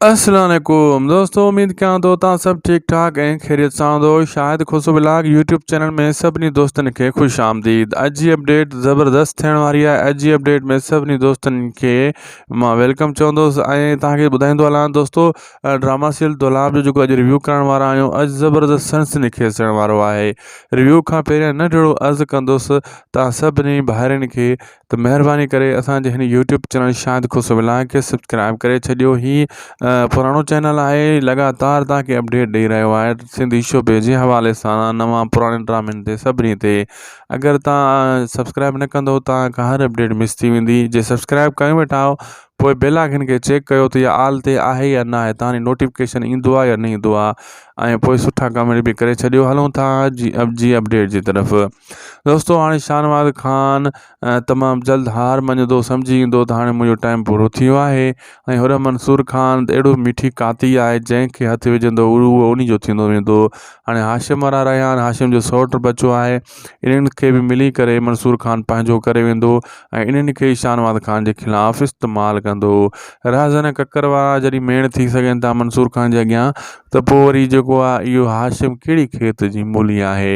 السلام عليڪم دوستو اميد ڪيان ٿو تان سڀ ٺيڪ ٺاڪ ۽ خيريت سان هوندو Shahid Khoso blog YouTube channel ۾ سڀني دوستن کي خوش آمديد اڄ جي اپڊيٽ زبردست ٿيڻ واري آهي اڄ جي اپڊيٽ ۾ سڀني دوستن کي مان ويلڪم چوندوس ۽ تان کي ٻڌائيندو هلان دوستو ڊراما سيل دولاب جو جيڪو اڄ ريويو ڪرڻ وارا آهيون اڄ زبردست سنس نکيس ٿيڻ وارو آهي ريويو کان پهريان نه ڊيڙو عرض ڪندوس تان سڀني ڀائرن کي ته مهرباني ڪري اسان جي هن YouTube channel Shad Khush vlog کي سبسڪرائب ڪري ڇڏيو هي پراڻو چينل آهي لڳاتار تان کي اپڊيٽ ڏئي رهيو آهي سنڌي شعبي جي حوالي سان نوان پراڻي ڊرامن تي سڀني تي اگر تان سبسڪرائب نه ڪندو تان کان هر اپڊيٽ مس ٿي ويندي جي سبسڪرائب ڪيو ويٺا آهو پوء بيل آئڪن کي چيڪ ڪيو ته يا آل تي آهي يا نه آهي تان نوٽيفڪيشن ايندو آهي يا نه ايندو آهي ۽ پوء سٺا ڪامينٽ به ڪري ڇڏيو هلون ٿا جي اپ جي اپڊيٽ جي طرف دوستو هاڻي شاهنواز خان تمام جلد هار مڃدو سمجهي ويندو ته هاڻي منهنجو ٽائيم پورو ٿي ويو آهي ۽ هر منصور خان اهڙو مٺي ڪاتي آهي جنهن کي هٿ وجهندو اهو انهي جو ٿيندو ويندو هاڻي هاشم وارا رهيان هاشم جو سوٽ بچو آهي انهن کي به ملي ڪري منصور خان پنهنجو ڪري ويندو ۽ انهن کي شاهنواز خان جي خلاف استعمال ڪندو رهزن ڪڪر وارا جڏهن ميڻ ٿي سگهن ٿا منصور خان جي اڳيان ته پوء وري جيڪو آهي اهو هاشم ڪهڙي کيت جي مولي آهي